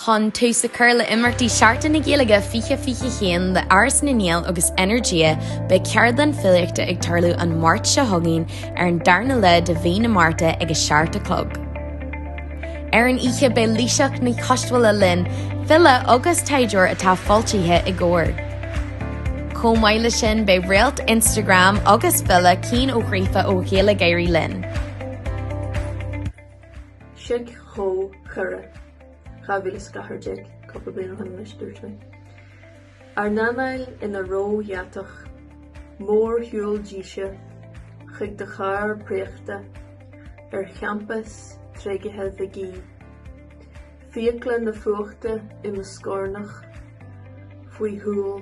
Chun tús a chur le imeachtaí Seachtain na Gaeilge 2021 le Áras na nGael agus Energia, beidh ceardlann filíochta ag tarlú an Máirt seo chugainn ar an darna lá de mhí na Márta ag a seacht a chlog. Ar an oíche beidh Laoighseach Ní Choistealbha linn, file agus taighdeoir atá foilsithe i gComhar. Chomh maith le sin beidh réalt Instagram agus file Cian Ó Gríofa ó Ghaylgeoirí linn. Sioc, chomh, chara, 2014, cúpla bliain ó shin anois, dúirt mé. Ár n-anáil ina ró-dheatach, mórshiúl díse chuig do charr préachta ar champas tréigithe Mhig Aoidh, fiacla na fuachta i mo scornach faoi shúil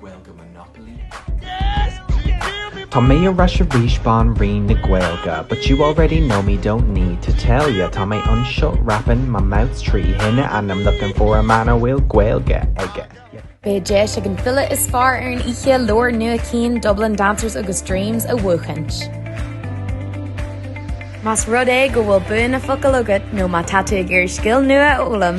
Gaeilge Monopoly? Tá mé ar ais arís Banríon na Gaeilge But you already know me, don't need to tell ya Tá mé anseo rapping my mouth trí thine And I'm looking for a man a bhfuil Gaeilge aige. Beidh deis ag an file is fearr ar an oíche leabhar nua Cian Dublin Dancers agus Dreams a bhuachaint. Más rud é go bhfuil bua na bhfocal agat nó má tá tú ag iarraidh scil nua a fhoghlaim,